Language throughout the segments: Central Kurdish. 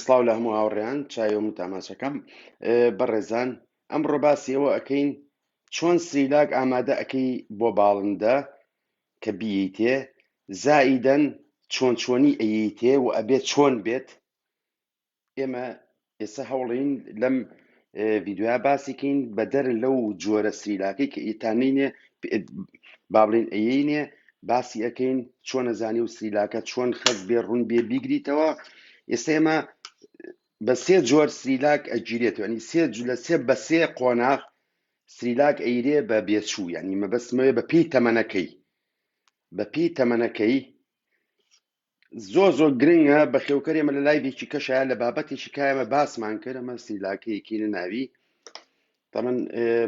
سڵاو لە هەموو هاوڕێیان چایۆم و تاماشەکەم بەڕێزان ئەمڕۆ باسی ئەوە ئەەکەین چۆن سریلاک ئامادە ئەەکەی بۆ باڵندە کە بیتێ زائیدەن چۆن چۆنی ئەیتێ و ئەبێت چۆن بێت ئێمە ئێستا هەوڵین لەم ڤیدۆیا باسی کەین بەدەر لەو جۆرە سریلاکەی کە ئیتا نینێ بابلین ئەینێ باسی ئەەکەین چۆن نەزانی و سریلاکە چۆن خەز بێ ڕوون بێ بیگریتەوە ئێستا ئێمە بە سێ جۆر سریلاک ئەگیرێت ینی سێ جو- لە سێ بە سێ قۆناغ سریلاک ئەیرێ بە بێچوو ینی مەبەستمەوێ بە پێی تەمەنەکەی بە پێی تەمەنەکەی زۆر زۆر گرنگە بەخێوکەرێ مە لە لایڤێکی کەشایە لە بابەتێکی کایمە باسمان کرد ئەمە سیلاکەیەکی نەناوی تەمەن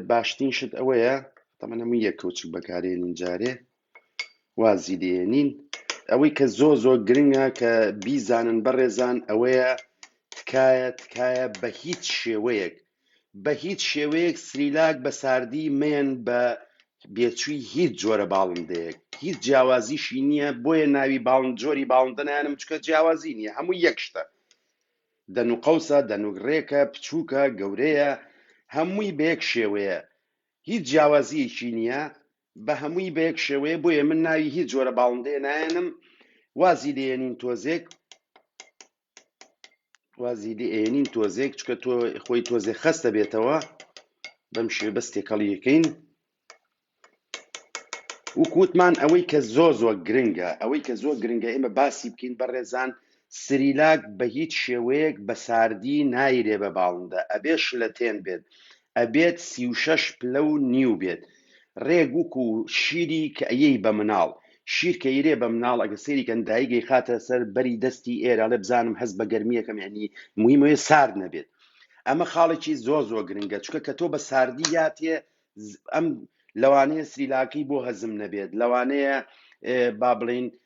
باشترین شت ئەوەیە تەمەن هەموو یەک کەوچک بەکارێنین جارێ وازی لێنین ئەوەی کە زۆر زۆر گرنگە کە بیزانن بەڕێزان ئەوەیە تکایە تکایە بە هیچ شێوەیەک بە هیچ شێوەیەک سریلاک بە ساردی مەیەن بە بێچووی هیچ جۆرە باڵندەیەک هیچ جیاوازیشی نییە بۆیە ناوی باڵند جۆری باڵندە نانم چکە جیاوازی نییە هەموو یەک شتە دەن و قەوسە دەنوک ڕێکە بچووکە گەورەیە هەمووی بەیەک شێوەیە هیچ جیاوازیەکی نییە بە هەمووی بەیەک شێوەیە بۆیە من ناوی هیچ جۆرە باڵندەیە نایەنم وازی لێنین تۆزێک وازی لێ ئەیەنین تۆزێک چکە تۆ خۆی تۆزێ خەستە بێتەوە بەم شێ بەس تێکەڵیەکەین وکووتمان ئەوەی کە زۆ زۆ گرنگە ئەوەی کە زۆر گرنگە ئێمە باسی بکەین بە ڕێزان سریلاک بە هیچ شێوەیەک بە ساردی نایرێ بە باڵندە ئەبێ شلەتێن بێت ئەبێت سی و شەش پلە و نیو بێت رێک وکو شیری کە ئەیەی بە مناڵ شیر کە یرێ بە مناڵ ئەگە سەیری کەن دایک ئەیخاتە سەر بەری دەستی ئێرە ئەڵێ بزانم هەست بە گەرمیە کەم یەعنی مویم ئەوێ سارد نەبێت ئەمە خاڵێکی زۆر زۆر گرنگە چکە کە تۆ بە ساردی یاتێ ئەم لەوانەیە سریلاکی بۆ هەزم نەبێت لەوانەیە با بڵین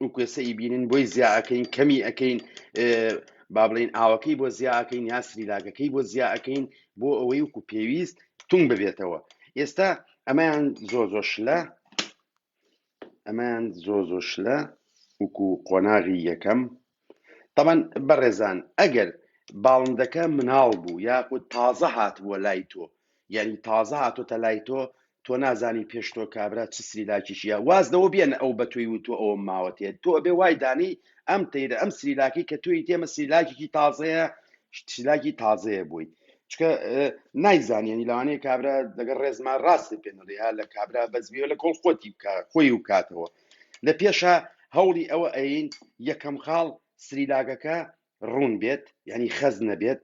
ئو کوێسە ی بینن بۆی زیا ئەکەین کەمی ئەکەین اه، با بڵێین ئاوەکەی بۆ زیا ئەکەین یا سریلاکەکەی بۆ زیا ئەکەین بۆ ئەوەی وکو پێویست تونگ ببێتەوە ئێستا ئەمەیان زۆ زۆ شلە ئەمەیان زۆ زۆ شلە وکو قۆناغی یەکەم تەبعەن بەڕێزان ئەگەر باڵندەکە مناڵ بوو یاخود تازە هاتبووە لای تۆ یعنی تازە هاتۆتە لای تۆ تۆ نازانی پێش تۆ کابرا چ سریلاکیشیە واز لەوە بێنە ئەو بە تۆی و تۆ ئەوم ماوەتێ تۆ ئەبێ وای دانی ئەم تەیرە ئەم سریلاکی کە توی تێمە سریلاکێکی تازەیە سریلاکی تازەیە بووی چکە نایزانانی لەوانەیە کابرا لەگەڵ ڕێزما ڕاست پێنەڵی ها لە کابرا بەزبیەوە لە کۆڵ خۆتی بکە خۆی و کاتەوە لە پێشا هەوڵی ئەوە ئەیەین یەکەم خاڵ سریلاکەکە ڕوون بێت یعنی خەز نەبێت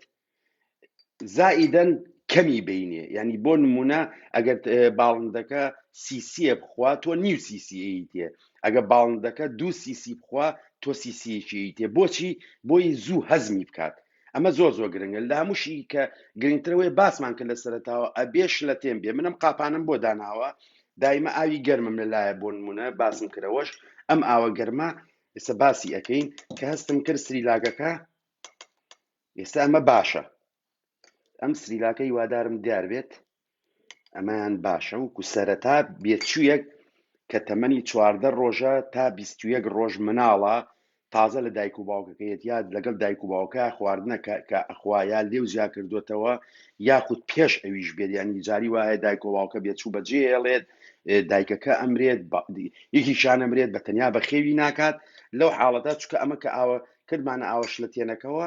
زائیدەن کەمی بینێ یعنی بۆ نمونە ئەگەر باڵندەکە سیسیە بخوا تۆ نیو سیسیی تێ ئەگە باڵندەکە دوو سیسی بخوا تۆ سیسیەکی تێ بۆچی بۆی زوو هەزمی بکات ئەمە زۆر زۆر گرنگە لە هەمووشی کە گرنگترەوەی باسمان کە لە سەرتاوە ئەبێ شلەتێن بێ منم قاپانم بۆ داناوە دایمە ئاوی گەرمم لەلایە بۆ نمونە باسم کرەوەش ئەم ئاوە گەرمە ئێستا باسی ئەەکەین کە هەستم کرد سریلاگەکە ئێستا ئەمە باشە ئەم سریلاکە هیوادارم دیار بێت ئەمەیان باشە وەکو سەرەتا بێچوویەک کە تەمەنی چواردە ڕۆژە تا بیست و یەک ڕۆژ مناڵە تازە لە دایک و باوکەکەیەت یاد لەگەڵ دایک و باوکە خواردنەکە کە ئەخوا یا لێو زیا کردوێتەوە یاخود پێش ئەویش بێت ینی جاری وایە دایک و باوکە بێچوو بەجێ هێڵێت دایکەکە ئەمرێت یەکیشان ئەمرێت بە تەنیا بەخێوی ناکات لەو حاڵەتە چکە ئەمە کە ئاوە کردمانە ئاوەش لە تێنەکەەوە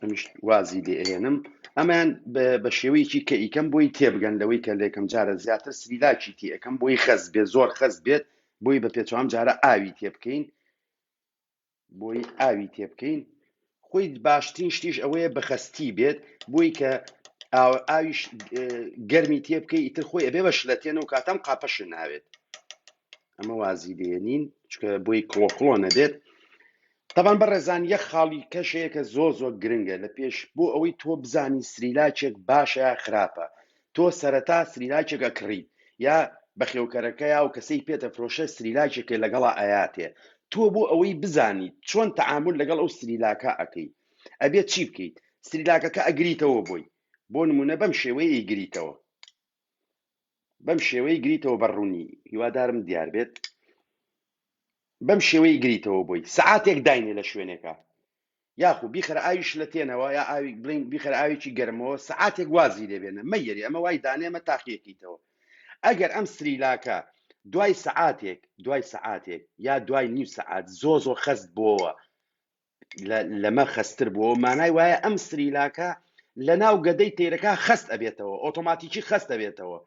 ئەمیش وازی لێ ئەهێنم ئەمەیان بە- بە شێوەیەکی کە ئیکەم بۆی تێبگەن لەوەی کە لێکم جارە زیاتر سریلاکی تێ ئەەکەم بۆی خەست بێت زۆر خەست بێت بۆی بە پێچوان جارە ئاوی تێ بکەین بۆی ئاوی تێ بکەین خۆی باشترین شتیش ئەوەیە بەخەستی بێت بۆی کە ئاویش گەرمی تێ بکەی ئیتر خۆی ئەبێ بە شلەتێن و کاتەم قاپەش ناوێت ئەمە وازی لێنین چکە بۆی کڵۆکڵۆ نەبێت تەبان بە ڕێزان یە خاڵی کەشەیە کە زۆ زۆ گرنگە لە پێش بۆ ئەوەی تۆ بزانی سریلاچێک باشە خراپە تۆ سەرەتا سریلاکێک ئەکڕی یا بەخێوکەرەکە یا و کەسەی پێتەفرۆشێ سریلاکێکێ لەگەڵا ئەیاتێ تۆ بۆ ئەوەی بزانیت چۆن تەعامول لەگەڵ ئەو سریلاکە ئەکەی ئەبێت چی بکەیت سریلاکەکە ئەگریتەوە بۆی بۆ نمونە بەم شێوەیە ئیگریتەوە بەم شێوەی گریتەوە بە ڕوونی هیوادارم دیار بێت بەم شێوەی گریتەوە بۆی سعاتێک داینێ لە شوێنێکە یاخو بیخەرە ئاوی شلەتێنەوە یا ئاوی بڵین بیخەرە ئاوێکی گەرمەوە سعاتێک وازی لێبێنە مەیەری ئەمە وای دانێمە تاقیەکەیتەوە ئەگەر ئەم سریلاکە دوای سعاتێک دوای سعاتێک یا دوای نیو سعات زۆ زۆ خەست بۆوە لە- لەمە خەستتر بووە مانای وایە ئەم سریلاکە لە ناو گەدەی تەیرەکە خەست ئەبێتەوە ئۆتۆماتیکی خەست ئەبێتەوە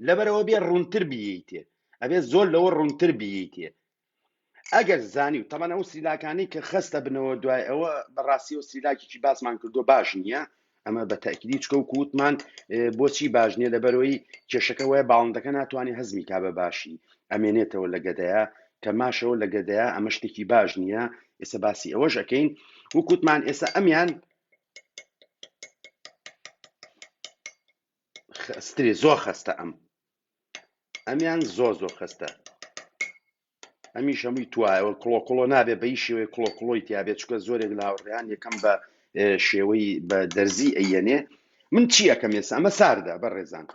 لەبەرەوە بێ ڕوونتر بیتێ ئەبێ زۆر لەوە ڕوونتر بیتێ ئەگەر زانی و تەبەن ئەو سیلاکانی کە خەستە بنەوە دوای ئەوە بەڕاستی و سیلاکێکی باسمان کردو باش نییە ئەمە بە تەکیدی چکە و کووتمان بۆچی باش نییە لەبەرەوەی کێشەکە وایە باڵندەکە ناتوانانی هەزمی کا بە باشی ئەمێنێتەوە لە گەدەیە کە ماشەوە لە گەدەیە ئەمە شتێکی باش نییە ئێستا باسی ئەوەش ئەەکەین وکووتمان ئێستا ئەمیان خستری زۆر خستە ئەم ئەمیان زۆر زۆر خستە ئەمیش هەمووی توایەوە کڵۆ کڵۆ نابێ بەی شێوەی کڵۆ کڵۆی تیاابێت چکە زۆرێک لاوەڕیان یەکەم بە اه، شێوەی بە دەرزی ئەیەنێ من چی ئەەکەم ێستا ئەمە ساردە بە ڕێزان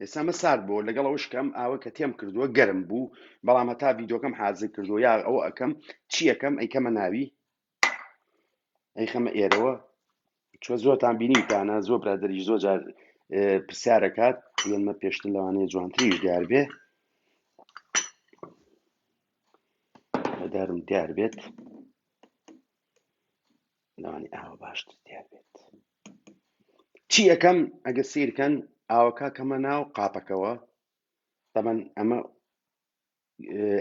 ئێستا ئەمە سارد بۆ لەگەڵ ئەوش کەم ئاوە کە تێم کردووە گەرم بوو بەڵام هەتا یددیوکەم حازر کردو یا ئەو ئەەکەم چی ئەەکەم ئەیکەمە ناوی ئەی خەمە ئێرەوە چۆ زۆرتان بینیتانە زۆر برادری زۆر جار پرسیارەکات یەمە پێشتر لەوانەیە جوانتریش دیار بێ بەدارم دیار بێت لەوانی ئاوە باشتر دیار بێت چی ئەەکەم ئەگە سیرکەن ئاوەکە کەمە ناو قاپەکەوە تەمەەن ئەمە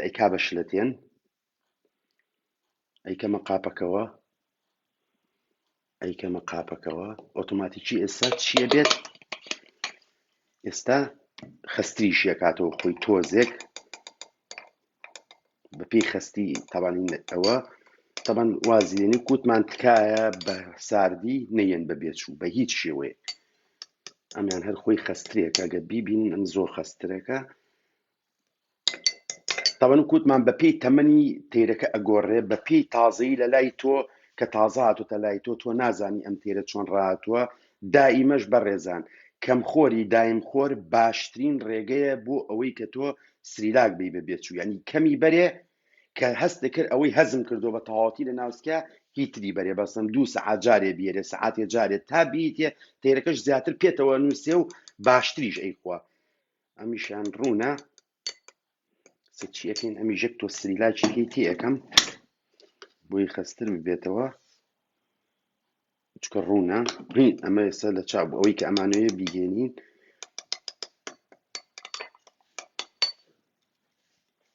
ئەی کا بە شلەتێن ئەیکەمە قاپەکەوە ئەیکەمە قاپەکەوە ئۆتۆماتیکی ئێستا چیە بێت ئێستا خستریش یەکاتەوە خۆی تۆزێک بەپی خستی تاوانین ئەوە تەبەن وازیێنی کووتمان تکایە بە ساردی نەیەن بە بێچوو بە هیچ شێوەیە ئەمیان هەر خۆی خسترێکە گە بیبین ئەم زۆر خسترەکە تەمەن کوتمان بە پێی تەمەنی تەیرەکە ئەگۆڕێ بە پێی تازەی لە لای تۆ کە تازە هاتوتە لای تۆ تۆ نازانی ئەم تێرە چۆن ڕاتوە دائیمەش بە ڕێزان کەم خۆری دایم خۆر باشترین ڕێگەیە بۆ ئەوەی کە تۆ سریلاک بی بە بێچوو ینی کەمی بەرێ کە هەست کرد ئەوەی هەزم کردو بە تەواتی لە ناوسکە هیتری بەرێ بەسم دوو سعات جارێ بیێ سعاتێ جارێت تا بیتێ تێرەکەش زیاتر پێتەوە نووسێ و باشتریش ئەیخوا ئەمیشان ڕوونە سچیەکەین ئەمی ژەک تۆ سریلاچێکی تێەکەم بۆی خەستر ببێتەوە چکە ڕوونە ڕین ئەمە ئێستا لە چاپ ئەوەی کە ئەمانەیە بیگەێنین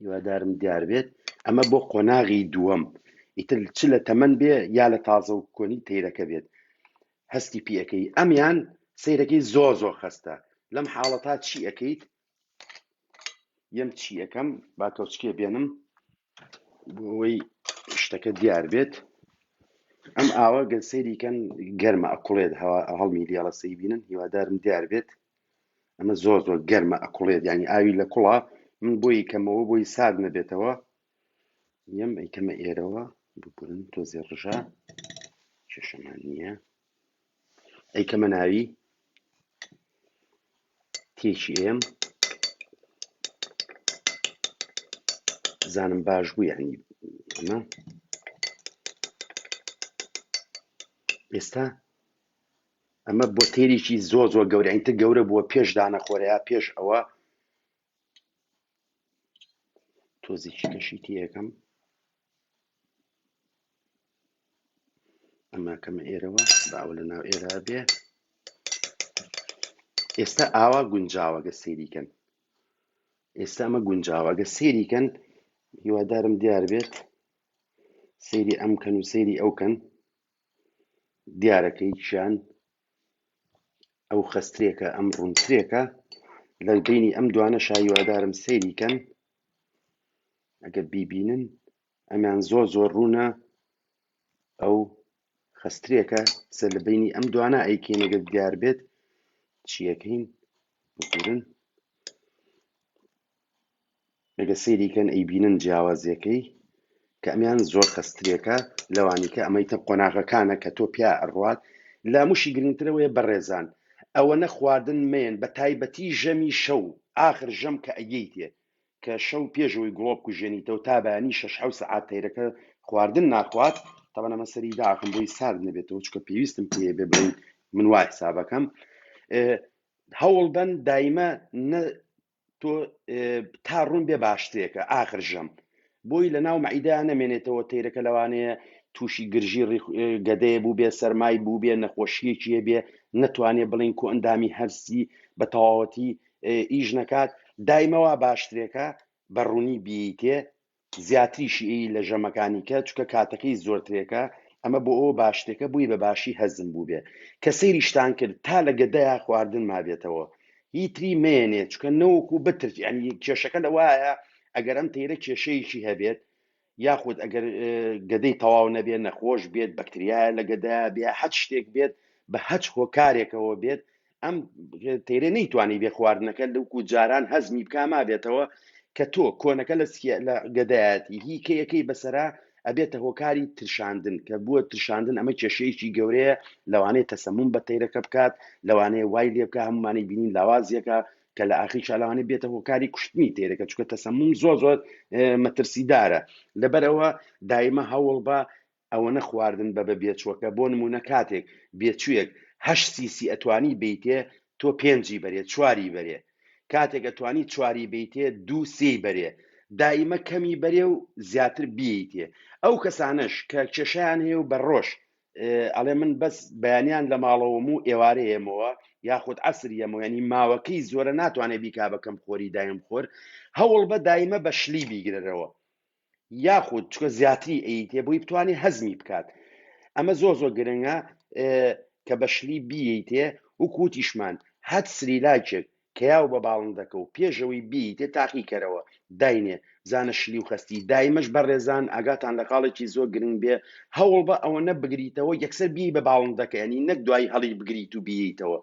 هیوادارم دیار بێت ئەمە بۆ قۆناغی دووەم ئیتر چ لە تەمەن بێ یا لە تازە و کۆنی تەیرەکە بێت هەستی پێ ئەکەی ئەمیان سەیرەکەی زۆر زۆر خەستە لەم حاڵەتا چی ئەەکەیت یەم چی ئەەکەم با تۆچکێ بێنم بۆ ئەوەی شتەکە دیار بێت ئەم ئاوە گەل سەیریکەن گەرمە ئەکوڵێت هەوا هەڵمی دیاڵە سەی بینن هیوادارم دیار بێت ئەمە زۆر زۆر گەرمە ئەکوڵێت ینی ئاوی لە کوڵە من بۆی کەمەوە بۆی سارد نەبێتەوە یەم ئەیکەمە ئێرەوە ببورن تۆزێ ڕژە کێشەمان نییە ئەیکەمە ناوی تێکی ئێم زانم باش بوو یعنی ئەمە ئێستا ئەمە بۆ تێریی زۆ زۆ گەورەینتر گەورە بووە پێش دانەخۆرەیە پێش ئەوە تۆزیکی کەشی تیەکەم ئەمە کەمە ئێرەوە باوە لە ناو ئێرە بێ ئێستا ئاوا گونجاوەگە سێریکەن ئێستا ئەمە گونجاوەگە سێریکەن هیوادارم دیار بێت سری ئەم کەن و سری ئەو کەن دیارە کە هیچیان ئەو خەسترێکە ئەم ڕوونترێکە لە بینی ئەم دوانە شایوادارم سەیری کەن ئەگەر بیبینن ئەمیان زۆر زۆر ڕوونە ئەو خەسترێکە سە لە بینی ئەم دوانە ئەیکێنەگەر دیار بێت چیەکەین بگورن ئەگەر سەیری کەن ئەیبینن جیاوازیەکەی کە ئەمیان زۆر خەستترێکە لەوانی کە ئەمەی تر قۆناغەکانە کە تۆ پیا ئەڕوات لاموشی گرنگترەوەیە بەڕێزان ئەوەنە خواردن مەیەن بە تایبەتی ژەمی شەو ئاخر ژەم کە ئەیەیتێ کە شەو پێشەوەی گڵۆ بکوژێنیتەوە تا بەیانی شەش حەوت سەعات تەیرەکە خواردن ناخوات تەبەن ئەمە سەری داخم بۆی سارد نەبێتەوە چکە پێویستم پێ بێ بڵین من وای حسابەکەم هەوڵبەن دایمە نە تۆ تا ڕوون بێ باشترێکە ئاخر ژەم بۆی لە ناو مەعیدا نەمێنێتەوە تەیرەکە لەوانەیە تووشی گرژی گەدەیە بوو بێ سەرمای بوو بێ نەخۆشیەکی هەبێ نەتوانێ بڵین کۆ ئەندامی هەرسی بە تەواوەتی ئیش نەکات دایمەوە باشترێکە بە ڕوونی بیتێ زیاتریشی ی لە ژەمەکانی کە چکە کاتەکەی زۆرترێکە ئەمە بۆ ئەوە باشتێکە بوی بە باشی هەزم بوبێ کە سەیریشتان کرد تا لە گەدەیا خواردن مابێتەوە هی تری مەیەنێ چکە نەوەکو بترت یانی کێشەکە لە وایە ئەگەر ئەم تەیرە کێشەیەکی هەبێت یاخود ئەگەر گەدەی تەواو نەبێ نەخۆش بێت بەکتریایە لە گەدەیا بێ هەچ شتێک بێت بە هەچ هۆکارێکەوە بێت ئەم تێرە نەیتوانی بێ خواردنەکە لەوکو جاران هەزمی بک مابێتەوە کە تۆ کۆنەکە لە سکیە لە گەدایەتی هی کەیەکەی بەسرە ئەبێتە هۆکاری ترشاندن کە بووە ترشاندن ئەمە کێشەیەکی گەورەیە لەوانەیە تەسەمون بە تەیرەکە بکات لەوانەیە وای لێ بکە هەمومانی بینین لاوازیەکە کە لە ئاخی شالوانی بێتە هۆکاری کوشتنی تێرەکە چکە تەسەمون زۆ زۆر مەترسیدارە لەبەرەوە دایمە هەوڵ بە ئەوەنە خواردن بە بە بێچوەکە بۆ نمونە کاتێک بێچویەک هەشت سیسی ئەتوانی بیتێ تۆ پێنجی بەرێ چواری بەرێ کاتێک ئەتوانی چواری بیتێ دوو سێی بەرێ دایمە کەمی بەرێ و زیاتر بیتێ ئەو کەسانەش کە کێشیان هەیە و بە ڕۆژ ئەڵێ من بەس بەیانیان لە ماڵەوەم و ئێوارەیەمەوە یاخود عسر یەمەوە ینی ماوەکەی زۆرە ناتوانێت بیکا بەکەم خۆری دایم خۆر هەوڵ بە دایمە بە شلی بیگرەرەوە یاخود چکە زیاتری ئەیتێ بۆی بتوانێت هەزمی بکات ئەمە زۆر زۆر گرنگە کە بەشلی بیتێ و کوتیشمان هەت سریلاکێک کە یاو بە باڵندەکە و پێشەوەی بیتێ تاقی کەرەوە داینێ بزانە شلی و خستی دایمەش بەڕێزان ئاگاتان لە قاڵێکی زۆر گرنگ بێ هەوڵ بە ئەوە نە بگریتەوە یەکسەر بی بە باڵندەکە ینی نەک دوای هەڵی بگریت و بیتەوە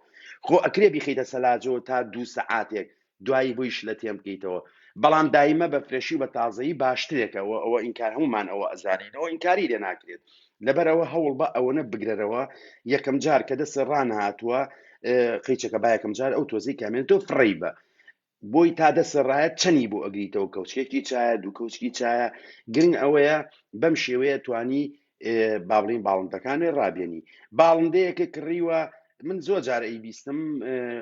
خۆ ئەکرێ بیخیتە سەلاجەوە تا دوو سەعاتێک دوایی بووی شلە تێم بکەیتەوە بەڵام دایمە بە فرێشی و بە تازەیی باشترێکە وە ئەوە ئینکار هەموومان ئەوە ئەزانین ئەوە ئینکاری لێ ناکرێت لەبەر ئەوە هەوڵ بە ئەوەنە بگرەرەوە یەکەم جار کە دەسێ ڕانهاتووە قیچەکە با یەکەم جار ئەو تۆزی کامێن تۆ فڕی بە بۆی تا دەسەڕایەت چەنی بۆ ئەگریتەوە کەوچکێکی چایە دوو کەوچکی چایە گرنگ ئەوەیە بەم شێوەیە توانی بابلین باڵندەکانێ ڕابێنی باڵندەیەکە کڕیوە من زۆر جار ئەی بیستم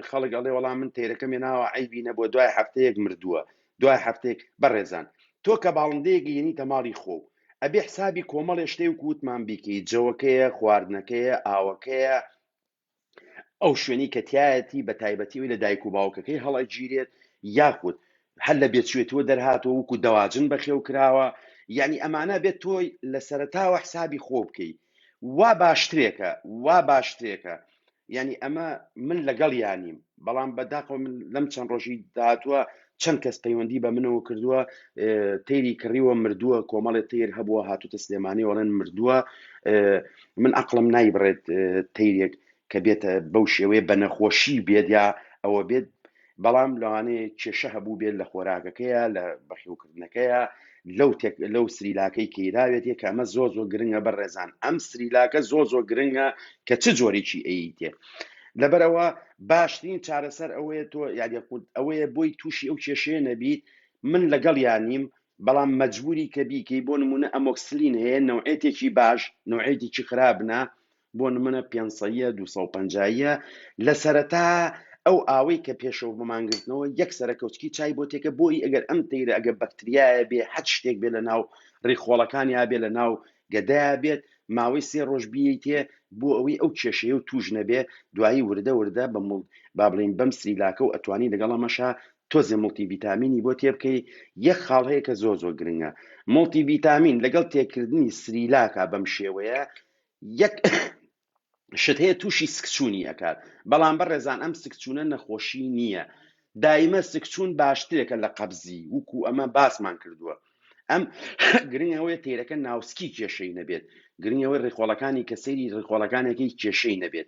خەڵک ئەڵێ وەڵام من تێرەکەم ناوە ئەیبی نەبووە دوای هەفتەیەک مردووە دوای هەفتێک بەڕێزان تۆ کە باڵندەیەک یەنی تەماڵی خۆ و ئەبێ حسابی کۆمەڵێ شتێ و کووتمان بیکەی جەوەکەیە خواردنەکەیە ئاوەکەیە ئەو شوێنەی کە تایەتی بە تایبەتی ئەوی لە دایک و باوکەکەی هەڵەگیرێت یاخود هەر لە بێچێتوە دەرهاتەوە وکو دەواجن بەخێو کراوە یعنی ئەمانە بێت تۆی لە سەرتاوە حسابی خۆ بکەی وا باشترێکە وا باشترێکە یعنی ئەمە من لەگەڵ یانیم بەڵام بەداخەوە من لەم چەند ڕۆژی داهاتووە چەند کەس پەیوەندی بە منەوە کردووە تەیری کڕیوە مردووە کۆمەڵێ تەیر هەبووە هاتوتە سلێمانی وەڵێن مردووە من ئەقلم نایبڕێت تەیرێک کە بێتە بەو شێوەیە بە نەخۆشی بێت یا ئەوە بێت بەڵام لەوانەیە کێشە هەبوو بێت لە خۆراکەکەیە لە بەخێوکردنەکەیە لەو تێک لەو سریلاکەی کەیراوێت یە کە ئەمە زۆر زۆر گرنگە بە ڕێزان ئەم سریلاکە زۆر زۆر گرنگە کە چ جۆرێکی ئەیتێ لەبەرەوە باشترین چارەسەر ئەوەیە تۆ یادە قوت ئەوەیە بۆی تووشی ئەو کێشەیە نەبیت من لەگەڵ یانیم بەڵام مەجبوری کە بیکەی بۆ نمونە ئەمۆکسلین هەیە نەوعێتێکی باش نەوعێتێکی خراپنا بۆ نمونە پێنسەییە دوو سەد و پەنجا ییە لە سەرەتا ئەو ئاوەی کە پێشەوە بۆ مانگرتنەوە یەک سەرەکەوتکی چای بۆ تێکە بۆی ئەگەر ئەم تەیرە ئەگە بەکتریایە بێ حەد شتێک بێ لە ناو ڕیخۆڵەکان یا بێ لە ناو گەدایا بێت ماوەی سێ ڕۆژ بیتێ بۆ ئەوەی ئەو کێشەیە و توش نەبێ دوایی وردە وردە بە مڵ با بڵین بەم سریلاکە و ئەتوانی لەگەڵ ئەمەشە تۆزێ مڵتی ڤیتامینی بۆ تێ بکەی یەک خاڵ هەیە کە زۆر زۆر گرنگە مڵتی ڤیتامین لەگەڵ تێکردنی سریلاکە بەم شێوەیە یەک شت هەیە تووشی سکچوونی ئەکات بەڵام بەڕێزان ئەم سکچوونە نەخۆشی نییە دایمە سکچوون باشترێکە لە قەبزی وکو ئەمە باسمان کردووە ئەم گرنگەوەی تیرەکە ناوسکی کێشەی نەبێت گرنگەوەی ڕیخۆڵەکانی کە سەیری ڕیخۆڵەکانێکی کێشەی نەبێت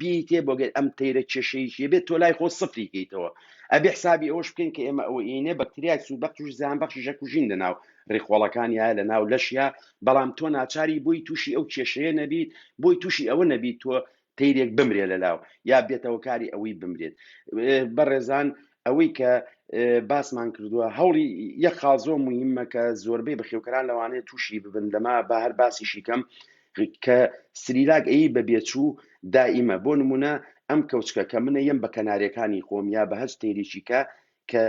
بیتێ بۆ گەر ئەم تەیرە کێشەیەکی بێت تۆ لای خۆ سفری کەیتەوە ئەبێ حسابی ئەوەش بکەین کە ئێمە ئەوە ئینێ بەکتریای سوود بەخش و زیان بەخشی ژەکوژین لە ناو ڕیخۆڵەکان یا لە ناو لەشیا بەڵام تۆ ناچاری بۆی تووشی ئەو کێشەیە نەبیت بۆی تووشی ئەوە نەبیت تۆ تیرێک بمرێ لە لاو یا بێتەوە کاری ئەوەی بمرێت بەڕێزان ئەوەی کە باسمان کردووە هەوڵی یە خاڵزۆ مهمە کە زۆربەی بەخێوکەران لەوانەیە تووشی ببن لەما بە هەر باسیشی کەم کە سریلاک ئەیی بە بێچوو دائیمە بۆ نمونە ئەم کەوچکە کە منە یەم بە کەنارێکانی خۆم یا بە هەچ تێریکی کە کە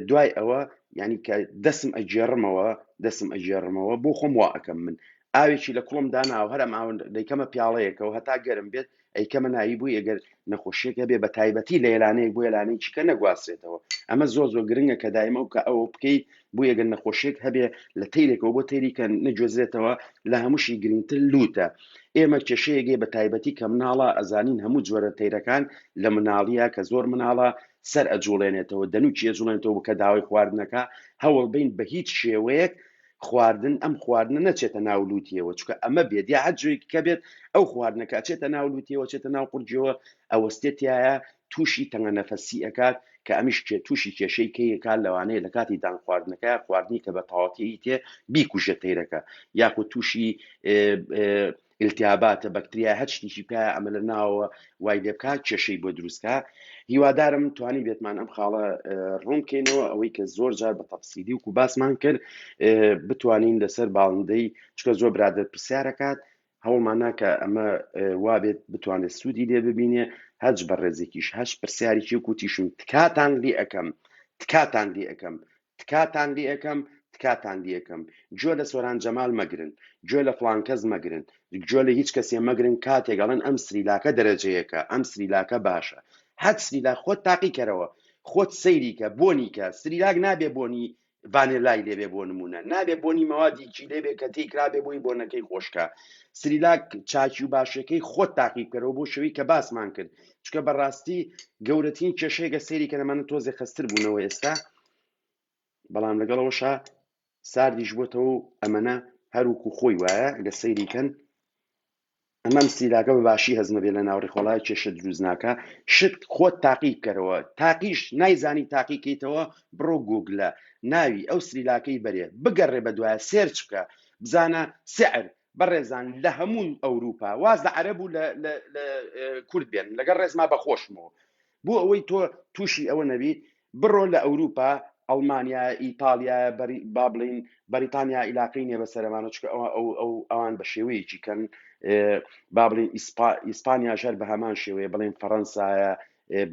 دوای ئەوە یعنی کە دەسم ئەگێڕمەوە دەسم ئەگێڕمەوە بۆ خۆم وا ئەەکەم من ئاوێکی لە کوڵم داناو هەرم ئاون دەیکەمە پیاڵەیەکەوە هەتا گەرم بێت ئەی کەمە ناوی بووی ئەگەر نەخۆشیێک هەبێ بە تایبەتی لە لانەیەک بۆ لانەی چکە نەگوازرێتەوە ئەمە زۆر زۆر گرنگە کە دایمە و کە ئەو بکەیت بۆ یەگەن نەخۆشیێک هەبێ لە تیرێکەوە بۆ تێریکە نەگوێزرێتەوە لە هەمووشی گرنگتر لوتە ئێمە کێشەیەگەی بە تایبەتی کە مناڵە ئەزانین هەموو جۆرە تەیرەکان لە مناڵیە کە زۆر مناڵە سەر ئەجوڵێنێتەوە دەنوچی ئەجوڵێنێتەوە کە داوای خواردنەکە هەوڵ بین بە هیچ شێوەیەک خواردن ئەم خواردنە نەچێتە ناو لووتیەوە چکە ئەمە بێت یا هەر جوێکی کە بێت ئەو خواردنەکە چێتە ناو لووتیەوە چێتە ناو قورجەوە ئەوەستێتایە تووشی تەنگە نەفەسی ئەکات کە ئەمیش کێ تووشی کێشەی کەیەکان لەوانەیە لە کاتی دان خواردنەکە خواردنی کە بە تەواتی تێ بیکوژە تەیرەکە یاخود تووشی ئیلتیاباتە بەکتریایە هەر شتیشی بکایە ئەمە لە ناوەوە وای لێ بکا کێشەی بۆ دروستکە هیوادارم توانی بێتمان ئەم خاڵە ڕوون بکەینەوە ئەوەی کە زۆر جار بە تەفسیلی وکو باسمان کرد بتوانین لەسەر باڵندەی چکە زۆر برادر پرسیارەکات هەوڵمان ناکە ئەمە وابێت بتوانێت سوودی لێ ببینێ هەج بە ڕێزێکیش هەش پرسیارێکی کوتیشم تکاتان لێ ئەەکەم تکاتان لێ ئەەکەم تکاتان لێئەکەم تکاتان لێئەکەم گوێ لە سۆران جەمال مەگرن، گوێ لە فڵان کەس مەگرن، گوێ لە هیچ کەسێ مەگرن کاتێک ئەڵێن ئەم سریلاکە دەرەجەیەکە، ئەم سریلاکە باشە، هەر سریلاک خۆت تاقی کەرەوە، خۆت سەیری کە، بۆنی کە، سریلاک نابێ بۆنی ڤانێلای لێ بێ بۆ نموونە، نابێ بۆنی مەوادیکی لێ بێ کە تێیکرابێ بۆی بۆنەکەی خۆش کا، سریلاک چاکی و باشیەکەی خۆت تاقی بکەرەوە بۆ شەوی کە باسمان کرد چکە بەڕاستی گەورەترین کێشەیەگە سەیری کە دەمانە تۆزێ خستر بوونەوە ئێستا بەڵام لەگەڵەوەشە ساردیش بۆتەوە و ئەمەە هەروکو خۆی وایە گە سەیری کەن ئەمەم سیلاگە بە باشی هەزمە بێ لە ناوڕی خۆڵای کێشە دروست ناکە شت خۆت تاقی بکەرەوە تاقیش نایزانی تاقیکەیتەوە بڕۆ گوگلە ناوی ئەو سریلاکەی بەرێ بگەڕێ بە دوایە سێرچ بکە بزانە سعر بەڕێزان لە هەموو ئەوروپا واز لە عەرەب و لە کورد بێن لەگەڵ ڕێزما بەخۆشمەوە بۆ ئەوەی تۆ تووشی ئەوە نەبی بڕۆ لە ئەوروپا ئەڵمانیا ئیتالیا با بڵین بەریتانیا عیلاقی نیە بە سەرمانە چکە ئەوە ئەو ئەو ئەوان بە شێوەیەکی کەن با بڵین ئیسپانیا ژەر بە هەمان شێوەیە بڵین فەڕەنسایە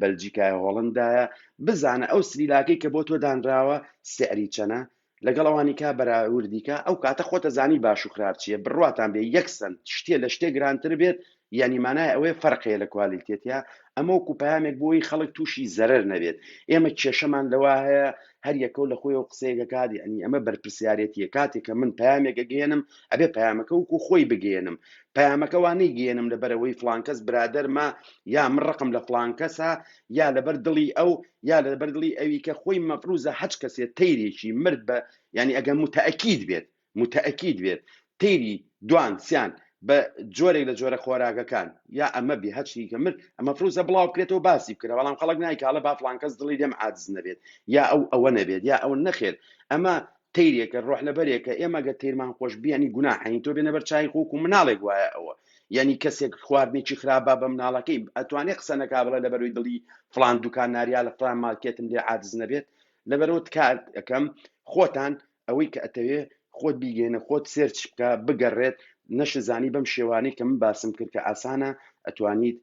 بەلجیکایە هۆڵندایە بزانە ئەو سریلاکەی کە بۆ تۆ دانراوە سعری چەنە لەگەڵ ئەوانیکا بەراوردیکە ئەو کاتە خۆتە زانی باش و خراپ چیە بڕواتان بێ یەک سەنت شتێ لە شتێ گرانتر بێت یانی مانای ئەوەیە فەرق هەیە لە کوالیتێتیا ئەمە وەکو پەیامێک بۆی خەڵک تووشی زەرەر نەبێت ئێمە کێشەمان لەوە هەیە هەر یەکەو لە خۆی و قسەیەکە کات یعنی ئەمە بەرپرسیارەتیە کاتێک کە من پامێکە گەێنم ئەبێ پامەکە وکو خۆی بگەێنم پامەکەوانی گەێنم لەبەرەوەی فلانکەس برادەرمە یا من ڕقم لە فلانکەسە یا لەبەر دڵی ئەو یا لەبەر دڵی ئەوی کە خۆی مەفروزە هەچ کەسێ تەیرێکی مرد بە یعنی ئەگەر متەئەکید بێت متەئەکید بێت تەیری دوان سیان بە جۆرێک لە جۆرە خۆراکەکان یا ئەمە بێ هەچی کە مرد ئەمە فروزە بڵاو بکرێتەوە باسی بکرێ بەڵام خەڵک نایکالە با فلانکەس دڵی لێم عاجز نەبێت یا ئەو ئەوە نەبێت یا ئەو نەخێر ئەمە تەیرێکە ڕۆحلەبەرێکە ئێمە گەر تەیرمان خۆش بێ یانی گوناحە هین تۆ بێنە بەر چای خۆک و مناڵێک وایە ئەوە یانی کەسێک خواردنێکی خراپە بە مناڵەکەی ئەتوانێ قسە نەکا بڵێ لەبەروی دڵی فڵان دوکان ناریا لە فڵان مارکێتم لێ عاجز نەبێت لەبەرەوە تکات ئەەکەم خۆتان ئەوەی کە ئەتەوێ خۆت بیگەێنە خۆت سێرچ بکە بگەڕێت نەشزانی بەم شێوانەی کە من باسم کرد کە ئاسانە ئەتوانیت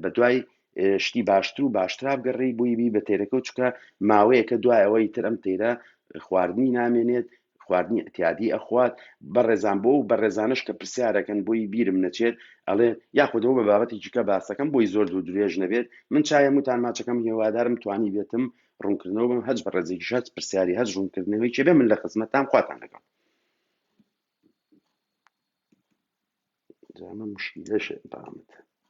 بە دوای شتی باشتر و باشترا بگەڕی بووی بی بە تێرەکە و چکە ماوەیەکە دوای ئەوەی تر ئەم تێرە خواردنی نامێنێت خواردنی ئەتیادی ئەخوات بە ڕێزان بۆ و بە ڕێزانش کە پرسیارەکەن بۆی بیرم نەچێت ئەڵێ یاخودەوە بە بابەتێکیکە باسەکەم بۆی زۆر دوو درێژ نەبێت من چایم وتان ماچەکەم هێوادارم توانی بێتم ڕوونکردنەوە بم هەج بە ڕێزێکی شەت پرسیاری هەر ڕوونکردنەوەی چێ بێ من لە خزمەتان خواتان لەگەڵ مشکیلەش بامت